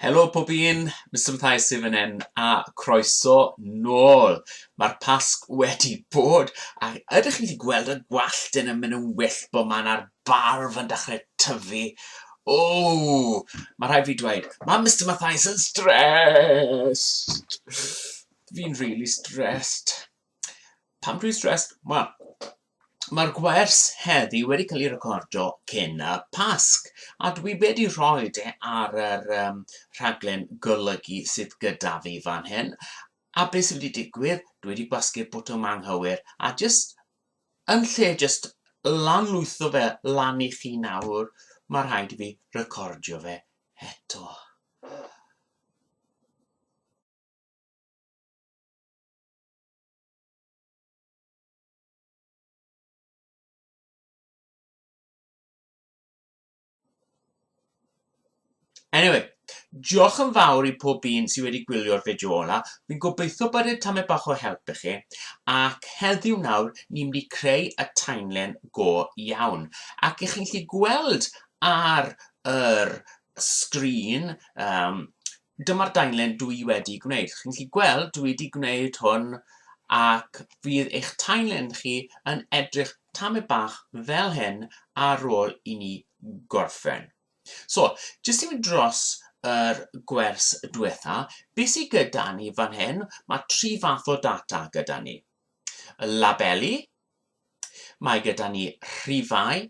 Helo pob un, Mister Mathias sydd fan hyn, a croeso nôl! Mae'r Pasg wedi bod, a ydych chi wedi gweld y gwallt yn mynd yn wyllt bod man a'r barf yn dechrau tyfu? O! Mae rhaid fi dweud, mae Mister Mathias yn stressed! Fi'n rili stressed. Pam dwi'n stressed? Wel, Mae'r gwers heddi wedi cael ei recordo cyn y Pasg, a dwi wedi rhoi e ar yr um, rhaglen golygu sydd gyda fi fan hyn. A beth sydd wedi digwydd, dwi wedi gwasgu'r bwtwm yma anghywir, a jyst yn lle jyst lanlwytho fe lan i chi nawr, mae rhaid i fi recordio fe eto. Anyway, diolch yn fawr i pob un sydd wedi gwylio'r fideo ola. Fi'n gobeithio bod e tamed bach o help i chi. Ac heddiw nawr, ni'n mynd i creu y timeline go iawn. Ac i chi'n lli gweld ar yr sgrin um, Dyma'r daenlen dw i wedi gwneud. Chi'n gallu gweld dwi wedi gwneud hwn ac fydd eich taenlen chi yn edrych tamaid bach fel hyn ar ôl i ni gorffen. So, jyst i mynd dros yr gwers diwetha, beth sydd gyda ni fan hyn, mae tri fath o data gyda ni. Y labeli, Mae gyda ni rhifau,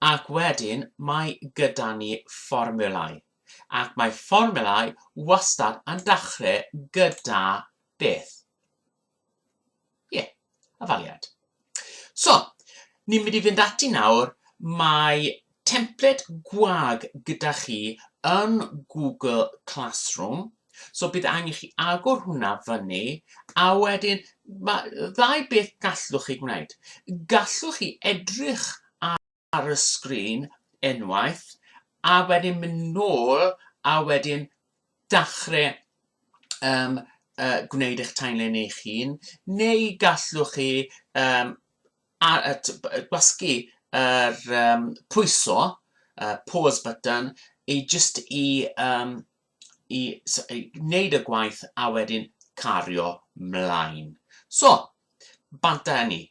ac wedyn mae gyda ni fformulau. Ac mae fformulau wastad yn dechrau gyda beth? Ie, yeah, afaliad. So, ni'n mynd i fynd ati nawr, mae templed gwag gyda chi yn Google Classroom, so bydd angen chi agor hwnna fyny, a wedyn mae ddau beth gallwch chi gwneud. Gallwch chi edrych ar y sgrin unwaith, a wedyn mynd nôl, a wedyn dachrau um, uh, gwneud eich timeline eich hun, neu gallwch chi um, a gwasgu yr um, pwyso, uh, pause button, i just i, um, i, so, i wneud y gwaith a wedyn cario mlaen. So, bant â ni.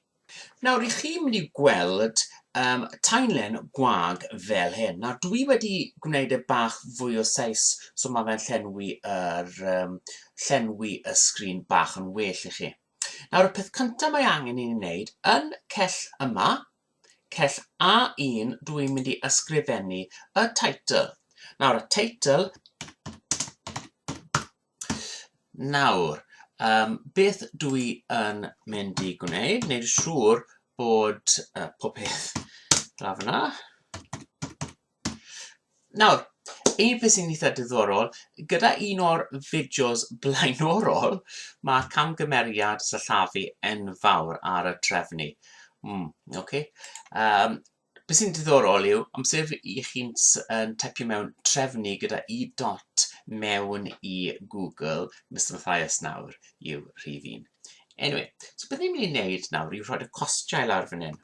Nawr, i chi mynd i gweld um, tainlen gwag fel hyn. Nawr, dwi wedi gwneud y bach fwy o seis, so mae fe'n llenwi, yr, um, llenwi y sgrin bach yn well i chi. Nawr y peth cyntaf mae angen i ni wneud, yn cell yma, cell A1, dw i'n mynd i ysgrifennu y title. Nawr y title, nawr, um, beth dw i yn mynd i gwneud, wneud siŵr bod uh, pob peth lawr fyna. Nawr, un peth sy'n eitha diddorol, gyda un o'r fideos blaenorol, mae'r camgymeriad sillafu enfawr ar y trefnu. Mm, ok. Um, beth sy'n diddorol yw, amser i chi'n yn typio mewn trefnu gyda i dot mewn i Google, Mr Mathias nawr yw rhif un. Anyway, so beth ni'n mynd i wneud nawr yw rhoi y costiau lawr fan hyn.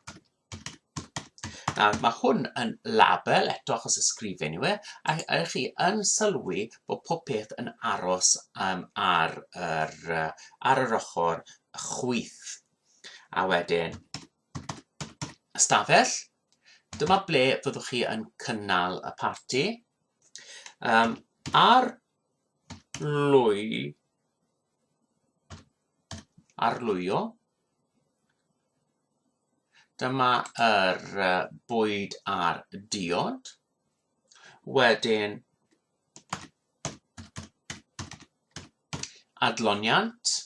Nawr, mae hwn yn label eto achos y sgrifen yw e, a ydych chi yn sylwi bod pob peth yn aros um, ar, yr, uh, ar yr ochr chwyth. A wedyn, ystafell, dyma ble fyddwch chi yn cynnal y parti. Um, ar lwy, arlwyo, Dyma yr uh, bwyd a'r diod. Wedyn, adloniant.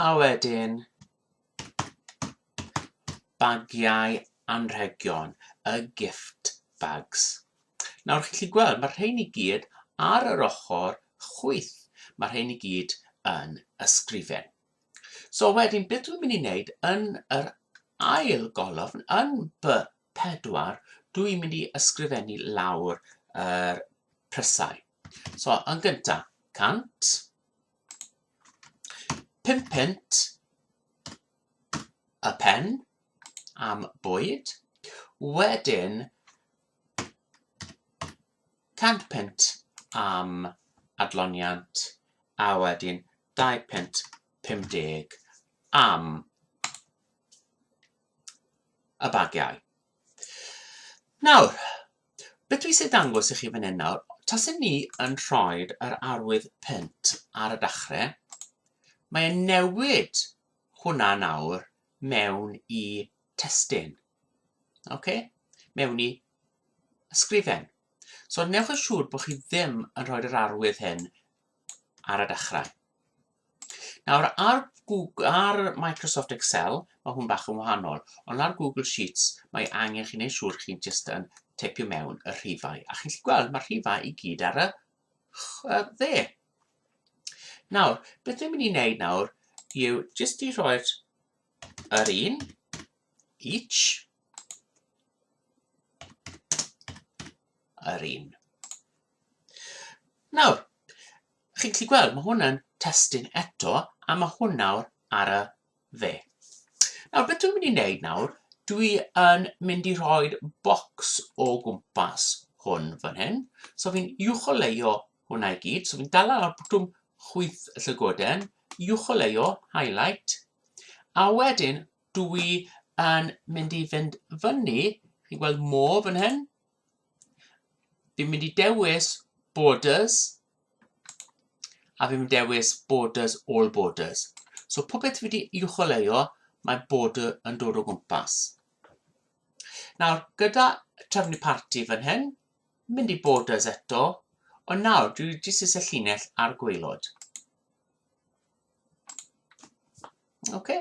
A wedyn, bagiau anrhegion, y gift bags. Nawr, chi'n gallu gweld, mae'r rhain i gyd ar yr ochr chwyth. Mae'r rhain i gyd yn ysgrifen. So wedyn, beth dwi'n mynd i wneud yn yr ail golofn, yn by 4, dwi'n mynd i ysgrifennu lawr yr er prysau. So, yn gyntaf, 100, 5 pint y pen am bwyd, wedyn 100 punt am adloniant a wedyn 2 punt 50 am y bagiau. Nawr, beth dwi eisiau dangos i chi fan hyn nawr, tasyn ni yn rhoi yr arwydd punt ar y dachrau, mae'n newid hwnna nawr mewn i testyn. okay, mewn i ysgrifen. So newch yn siŵr bod chi ddim yn rhoi'r arwydd hyn ar y dechrau. Nawr, ar, Google, ar Microsoft Excel, mae hwn bach yn wahanol, ond ar Google Sheets mae angen chi'n ei siŵr chi'n just yn teipio mewn y rhifau. A chi'n gallu gweld mae'r rhifau i gyd ar y dde. Nawr, beth dwi'n mynd i wneud nawr yw just i roi'r yr un, each yr un. Nawr, chi'n gallu gweld, mae hwnna'n testyn eto, a mae hwn nawr ar y dde. Nawr, beth dwi'n mynd i wneud nawr, dwi yn mynd i rhoi bocs o gwmpas hwn fan hyn. So fi'n uwcholeio hwnna i gyd, so fi'n dal ar y bwtwm chwyth y llygoden, uwcholeio, highlight, a wedyn Dw i yn mynd i fynd fyny, chi'n gweld more fan hyn. Fi'n mynd i dewis borders, a fi'n mynd dewis borders, all borders. So popeth fi wedi i'w choleo, mae border yn dod o gwmpas. Nawr, gyda trefnu parti fan hyn, mynd i borders eto, ond nawr, dwi jyst eisiau llinell ar gweilod. Oce. Okay.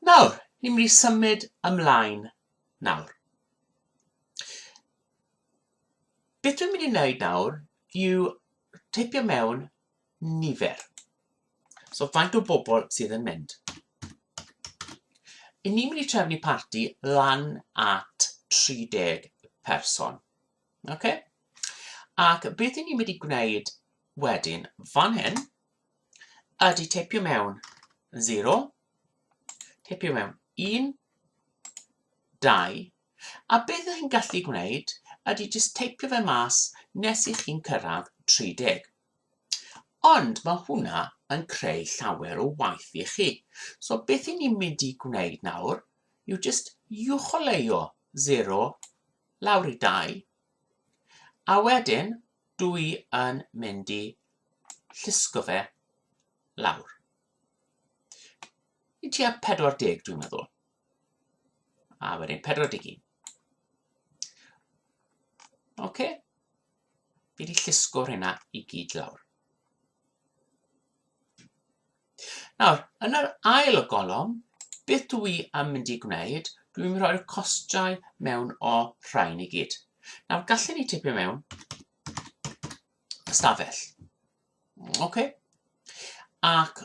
Nawr, ni'n mynd i symud ymlaen nawr. Beth dwi'n mynd i wneud nawr yw tipio mewn nifer. So faint o bobl sydd yn mynd. I ni'n mynd i trefnu parti lan at 30 person. Okay? Ac beth i ni'n mynd i gwneud wedyn, fan hyn, Ydy, teipio mewn 0, teipio mewn 1, 2, a beth ydych chi'n gallu gwneud ydy jyst teipio fe mas nes i chi'n cyrraedd 30. Ond mae hwnna yn creu llawer o waith i chi. So beth i ni'n mynd i gwneud nawr yw jyst uwcholeuo 0 lawr i 2, a wedyn Dw i yn mynd i llusgo fe lawr. I tua 40 dwi'n meddwl. A wedyn 41. Oce. Okay. Fi wedi llusgo'r hynna i gyd lawr. Nawr, yn yr ail o golofn, beth dw i am mynd i gwneud, dwi'n mynd i roi'r costiau mewn o rhain i gyd. Nawr, gallen ni tipio mewn ystafell. OK? Ac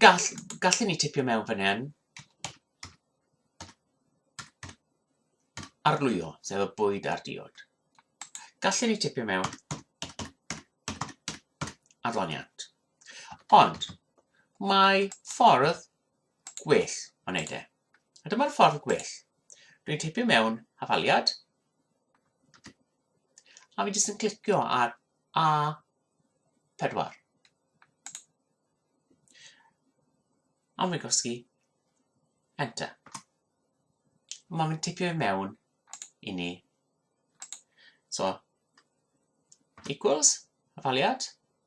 gall, gallen ni tipio mewn fan hyn arlwyo, sef y bwyd a'r diod. Gallen ni tipio mewn arloniant. Ond mae ffordd gwell o wneud e. A dyma'r ffordd gwell. Dwi'n tipio mewn hafaliad. A fi jyst yn clicio ar A4. A fi'n gosgi Enter. Mae fi'n tipio i mewn i ni. So, equals, hafaliad.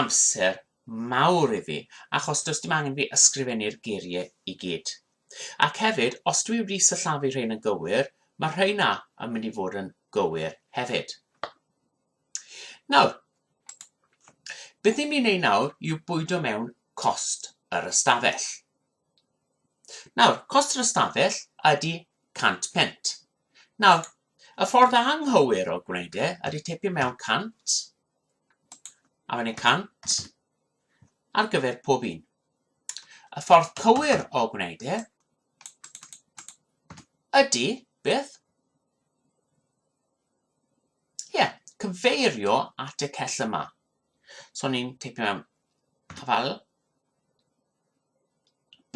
amser mawr i fi achos does dim angen fi ysgrifennu'r geiriau i gyd. Ac hefyd, os dwi wedi sillafu rhein yn gywir, mae'r rhai 'na yn mynd i fod yn gywir hefyd. Nawr, beth ni'n mynd i wneud nawr yw bwydo mewn cost yr ystafell. Nawr, cost yr ystafell ydy 100 pent. Nawr, y ffordd anghywir o gwneud e ydy tipio mewn 100 a wedyn 100 ar gyfer pob un. Y ffordd cywir o gwneud e ydy, beth? Ie, yeah, cyfeirio at y cell yma. So ni'n teipio mewn hafal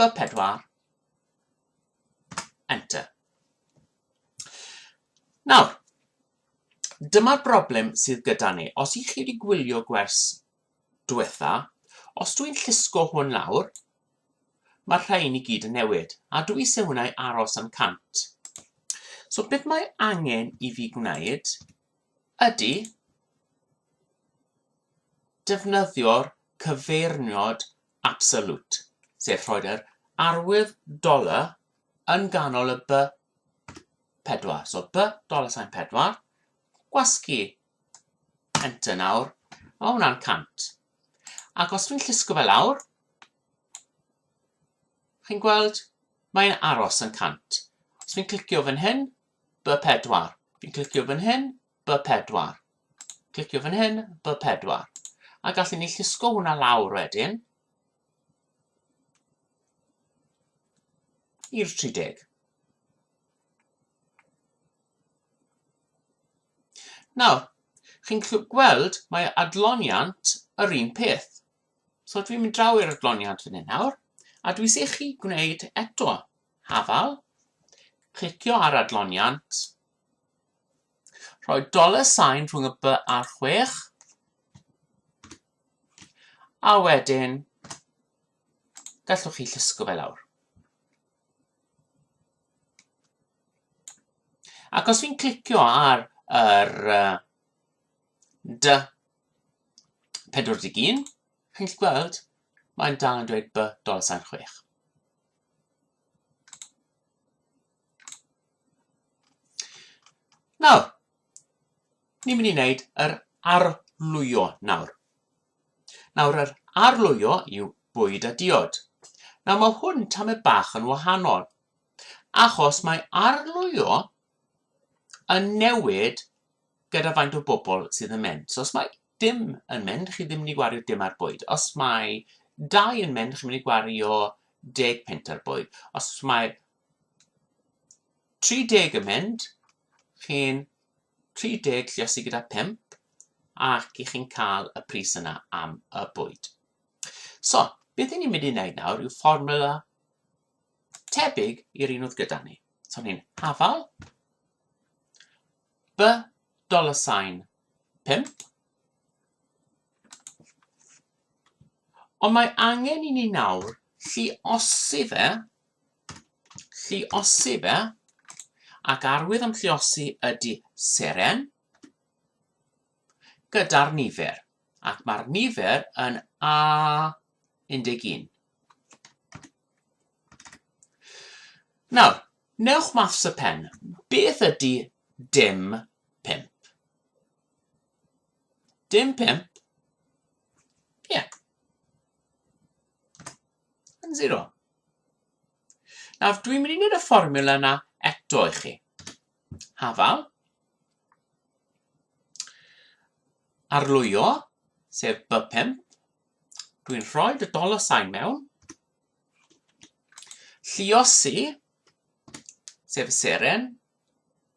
B4, enter. Nawr, Dyma'r broblem sydd gyda ni. Os i chi wedi gwylio gwers diwetha, os dwi'n llusgo hwn lawr, mae'r rhain i gyd yn newid, a dwi eisiau hwnna i aros am 100. So beth mae angen i fi gwneud ydy defnyddio'r cyfeirniod absolute, sef rhoi'r arwydd dollar yn ganol y by 4. So by dollar sign 4. Gwasgu. Enter nawr. A mae hwnna'n 100. Ac os dwi'n llusgo fe lawr, chi'n gweld, mae'n aros yn 100. Os dwi'n clicio fan hyn, by 4. Fi'n clicio fan hyn, by 4. Clicio fan hyn, by 4. A gallwn ni llusgo hwnna lawr wedyn. i'r 30. Nawr, chi'n gweld mae adloniant yr un peth. So dwi'n mynd draw i'r adloniant fan hyn nawr, a dwi'n eisiau chi gwneud eto hafal, clicio ar adloniant, rhoi dollar sign rhwng y by a'r chwech, A wedyn, gallwch chi llusgo fe lawr. Ac os fi'n clicio ar yr uh, dy 41, chi'n gallu gweld, mae'n dal yn dweud by dolar sain 6. Nawr, Ni'n mynd i wneud yr arlwyo nawr. Nawr, yr arlwyo yw bwyd a diod. Nawr, mae hwn tamed bach yn wahanol, achos mae arlwyo yn newid gyda faint o bobl sydd yn mynd. So, os mae dim yn mynd, chi ddim yn mynd i gwario dim ar bwyd. Os mae dau yn mynd, chi'n mynd i gwario deg punt ar bwyd. Os mae 30 yn mynd, chi'n 30 lluosi gyda 5 ac i chi'n cael y pris yna am y bwyd. So, beth ni'n mynd i wneud nawr yw fformula tebyg i'r un oedd gyda ni. So, ni'n hafal b dollar sign 5 Ond mae angen i ni nawr lliosi fe, lliosi fe, ac arwydd am lliosi ydy seren gyda'r nifer, ac mae'r nifer yn A11. Nawr, newch maths y pen, beth ydy dim 5? Dim pump. Ie. Yeah. Yn zero. Nawr, dwi'n mynd i wneud y fformula yna eto i chi. Hafal. Arlwyo, sef by pump. Dwi'n rhoi y dollar sign mewn. Lliosi, sef y seren,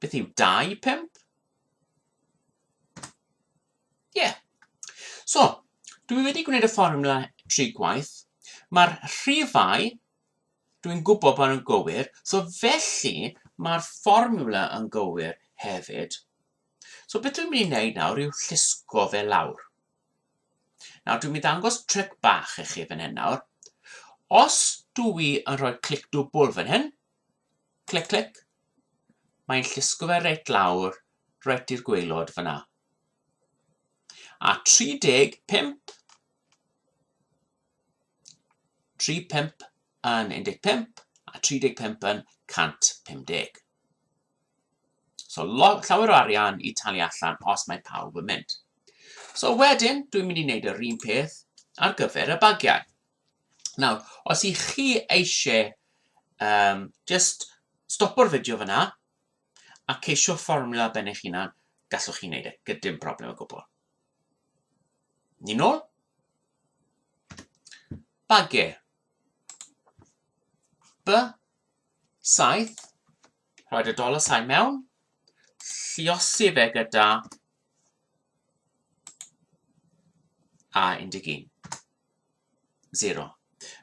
Beth yw 2 i 5? Ie. Yeah. So, dwi wedi gwneud y fformula tri gwaith. Mae'r rhifau, dwi'n gwybod bod nhw'n gywir, so felly mae'r fformula yn gywir hefyd. So beth dwi'n mynd i wneud nawr yw llusgo fe lawr. Nawr dwi'n mynd i ddangos tric bach i chi fan hyn nawr. Os dwi yn rhoi clic dwbl fan hyn, Clic clic. Mae'n llusgo fe reit lawr, reit i'r gweilod fyna. A 35, 35 yn 15 a 35 yn 150. So llawer o arian i talu allan os mae pawb yn mynd. So wedyn, dwi'n mynd i wneud yr un peth ar gyfer y bagiau. Nawr, os i chi eisiau um, just stopo'r fideo fyna a ceisio fformula ben eich hunan, gallwch chi wneud e, gydym problem o gwbl. Ni'n ôl? Bage. B, saith, rhoi y dola sain mewn, lliosi fe gyda A11. 0.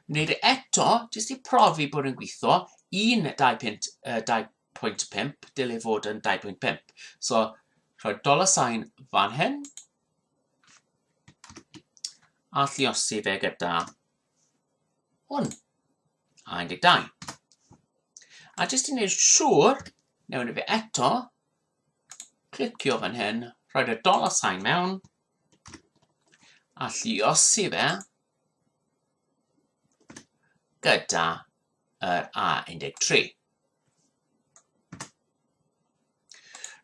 Wneud e eto, jyst i profi bod yn gweithio, 1, 2.5, dylai fod yn 2.5. So, rhoi dollar sign fan hyn, a lliosi fe gyda hwn, a 12. A jyst i wneud siŵr, newn ni fe eto, clicio fan hyn, rhoi y dollar sign mewn, a lluosi fe gyda yr A13.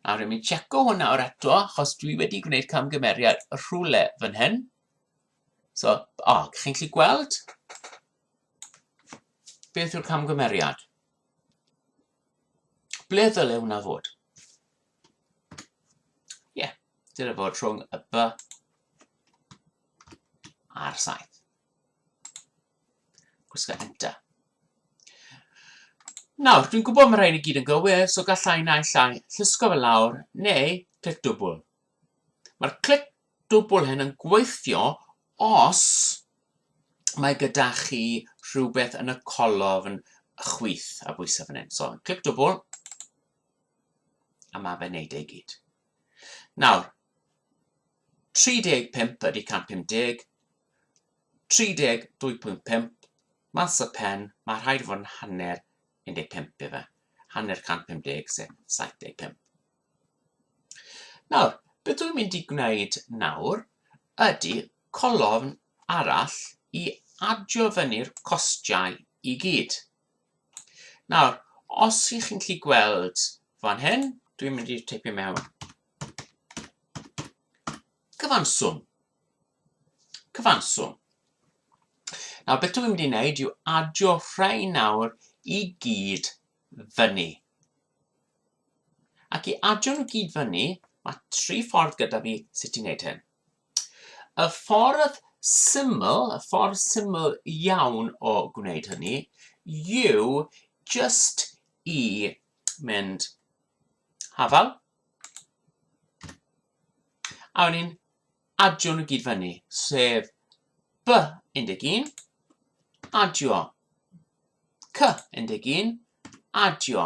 A rwy'n mynd checo hwnna o'r eto, achos dwi wedi gwneud camgymeriad rhywle fan hyn. So, o, oh, chi'n gallu gweld? Beth yw'r camgymeriad? Ble ddyle hwnna fod? Ie, dyna fod rhwng y B a'r 7. Gwisgo enter. Nawr, dwi'n gwybod mae rhaid i gyd yn gywir, so gallai naill llai llysgo fe lawr, neu clic dwbl. Mae'r clic dwbl hyn yn gweithio os mae gyda chi rhywbeth yn y colofn chwith a bwysau fan hyn. So, clic dwbl, A mae fe'n neud e i gyd. Nawr, 35 ydy 150, 32.5, mas y pen, mae rhaid fod yn hanner 15 efe, hanner 150 sef 75. Nawr, beth dwi'n mynd i gwneud nawr ydy colofn arall i adio fyny'r costiau i gyd. Nawr, os ych chi'n gallu gweld fan hyn, dwi'n mynd i teipio mewn cyfanswm. Cyfanswm. Nawr, beth dwi'n mynd i wneud yw adio rhai nawr i gyd fyny. Ac i adio nhw gyd fyny, mae tri ffordd gyda fi sut i wneud hyn. Y ffordd syml, y ffordd syml iawn o gwneud hynny yw jyst i mynd hafal a wedyn ni'n adio nhw gyd fyny, sef B11, adio C11, adio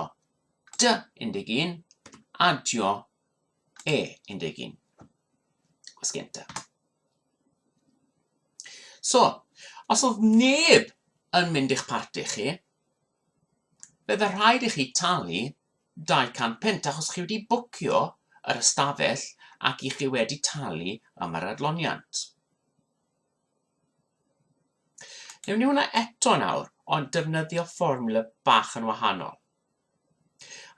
D11, adio E11. Gwasgu enter. So, os oedd neb yn mynd i'ch parti chi, bydde rhaid i chi talu 200 punt achos chi wedi bwcio yr ystafell ac i chi wedi talu am yr adloniant. Newn ni hwnna eto nawr, ond defnyddio fformula bach yn wahanol.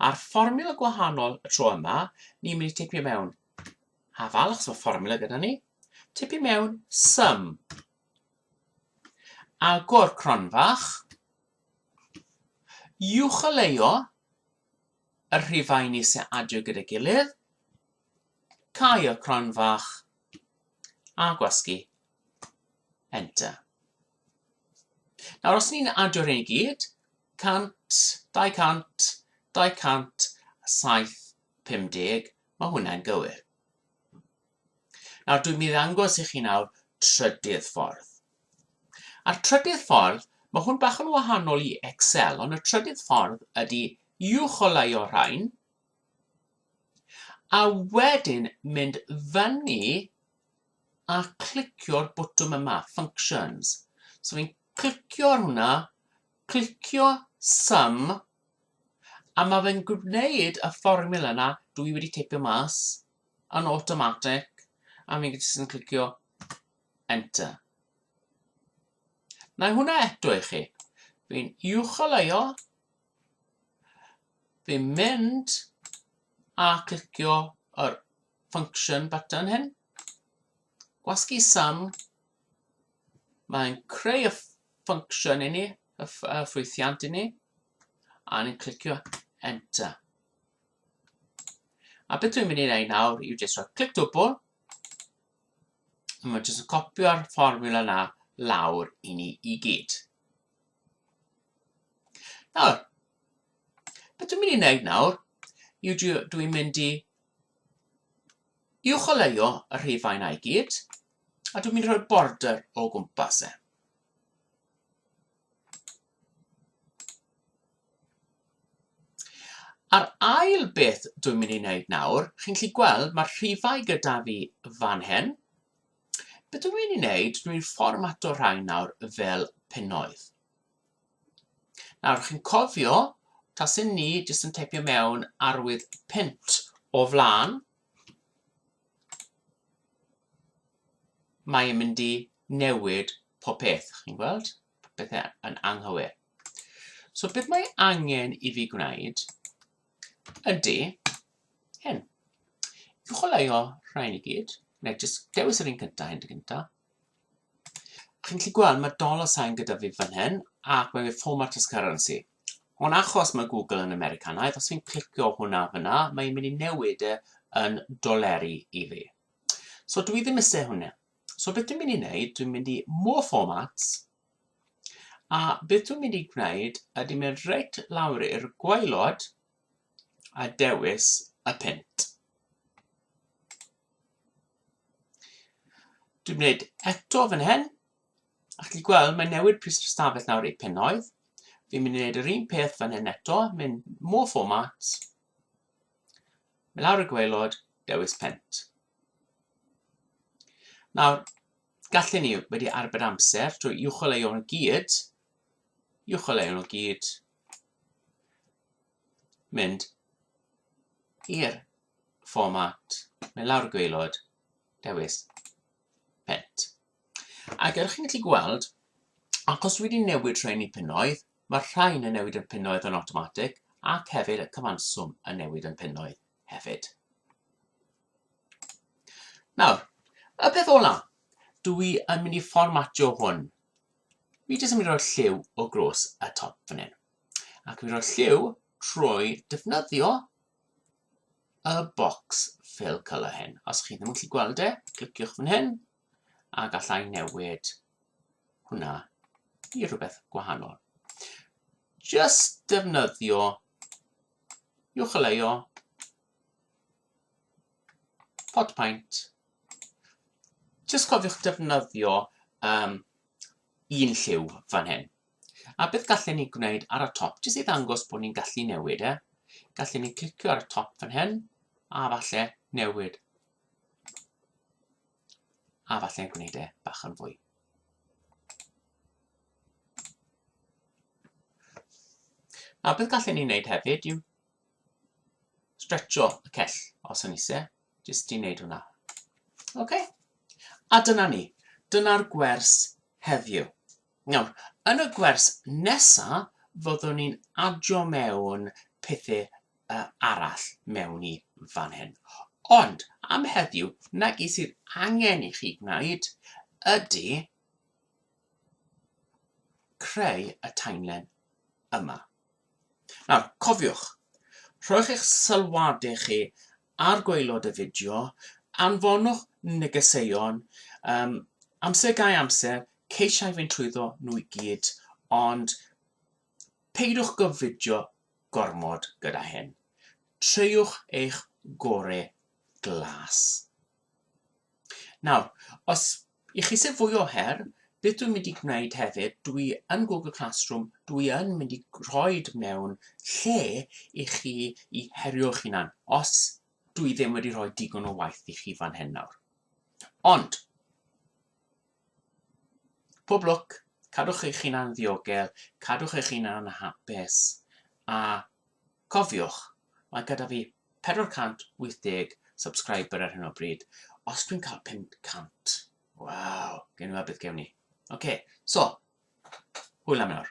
A'r fformiwla gwahanol y tro yma, ni'n mynd i tipio mewn hafal, achos mae fformiwla gyda ni, tipio mewn sum, agor cronfach, uwcholeuo y rhifau ni sy'n adio gyda'i gilydd, cau y cronfach a gwasgu Enter. Nawr, os ni'n adio hyn i gyd, 100, 200, 250, mae hwnna'n gywir. Nawr, dwi'n mynd i ddangos i chi nawr trydydd ffordd. A'r trydydd ffordd, mae hwn bach yn wahanol i Excel, ond y trydydd ffordd ydy uwch o lai o'r rhain, a wedyn mynd fyny a clicio'r botwm yma, functions. So fi'n clicio ar hwnna, clicio sum, a mae fe'n gwneud y fformula yna, dwi i wedi teipio mas, yn automatic, a fi'n jyst yn clicio enter. Na hwnna eto i chi. Fi'n uwcholeuo, Fi'n mynd a clicio yr function button hyn. Gwasgu sum. Mae'n creu y function i ni, y ffwythiant i ni. A ni'n clicio enter. A beth dwi'n mynd i wneud nawr yw jyst rhoi clic dwbl. A mae'n jyst yn copio'r fformula na lawr i ni i gyd. Nawr, beth dwi'n mynd i wneud nawr yw dwi'n mynd i i'w choleio y rhifau yna i gyd, a dwi'n mynd i rhoi'r border o gwmpas e. A'r ail beth dwi'n mynd i wneud nawr, chi'n gallu gweld mae'r rhifau gyda fi fan hyn, Be dw i'n ei wneud, dwi'n fformato rhain nawr fel pennoedd. Nawr, chi'n cofio, tasyn ni jyst yn teipio mewn arwydd pent o flaen, mae yn mynd i newid pob peth, chi'n gweld? Popeth yn anghywir. So beth mae angen i fi gwneud ydy hyn. I'w chwaraeo rhain i gyd, neu jyst dewis yr un cyntaf, hyn dy gyntaf. Chi'n gallu gweld mae dollar sign gyda fi fan hyn, ac mae fe format as currency. Ond achos mae Google yn Americanaidd, os fi'n clicio hwnna fyna, mae'n mynd i newid e yn doleri i fi. So dwi ddim eisiau hwnna. So beth dwi'n mynd i wneud, dwi'n mynd i more formats, A beth dwi'n mynd i gwneud ydy mynd reit lawr i'r gwaelod a dewis y punt. Dwi'n gwneud eto fan hyn. A chi gweld, mae newid pris yr ystafell nawr i pennoedd. Fi'n mynd i wneud yr un peth fan hyn eto, mynd more format, mynd lawr y gwaelod, dewis pent. Nawr, gallen ni wedi arbed amser drwy uwcholeuo nhw gyd, uwcholeuo nhw gyd, mynd i'r fformat, mynd lawr y gweilod, dewis pent. Ac ydych chi'n gallu gweld, achos dwi wedi newid rhain i punnoedd, mae'r rhain yn newid yn punnoedd yn automatic ac hefyd y cyfanswm yn newid yn punnoedd. hefyd. Nawr, y peth ola, dw i yn mynd i fformatio hwn. Mi jyst yn mynd i roi'r lliw o glos y top fan hyn. Ac mi roi'r lliw trwy defnyddio y box fill colour hyn. Os chi ddim yn gallu gweld e, cliciwch fan hyn a gallai newid hwnna i rhywbeth gwahanol. Just defnyddio uwcholeuo, pot paint. Just cofiwch defnyddio um, un lliw fan hyn. A beth gallen ni gwneud ar y top, jyst i ddangos bod ni'n gallu newid e. Gallen ni clicio ar y top fan hyn, a falle newid A falle gwneud e bach yn fwy. A beth gallen ni wneud hefyd yw stretcho y cell os yn eisiau, jyst i wneud hwnna. OK? A dyna ni. Dyna'r gwers heddiw. Nawr, yn y gwers nesa, fyddwn ni'n adio mewn pethau uh, arall mewn i fan hyn. Ond, am heddiw, na i sydd angen i chi gwneud ydy creu y timeline yma. Nawr, cofiwch, rhowch eich sylwadau chi ar gwaelod y fideo, anfonwch negeseuon, um, amser gai amser, ceisiau fynd trwyddo nhw i gyd, ond peidiwch gyfidio gormod gyda hyn. Treiwch eich gore glas. Nawr, os i chi sy'n fwy o her, beth dwi'n mynd i gwneud hefyd, dwi yn Google Classroom, dwi yn mynd i rhoi mewn lle i chi i herio'ch hunan, os dwi ddim wedi rhoi digon o waith i chi fan hyn nawr. Ond, Pob lwc, cadwch eich hunan ddiogel, cadwch eich hunan yn hapus, a cofiwch, mae gyda fi 480 subscriber ar hyn o bryd, os dwi'n cael 500, waw, gen i weld beth gewn ni. Ok, so, hwyl am nawr.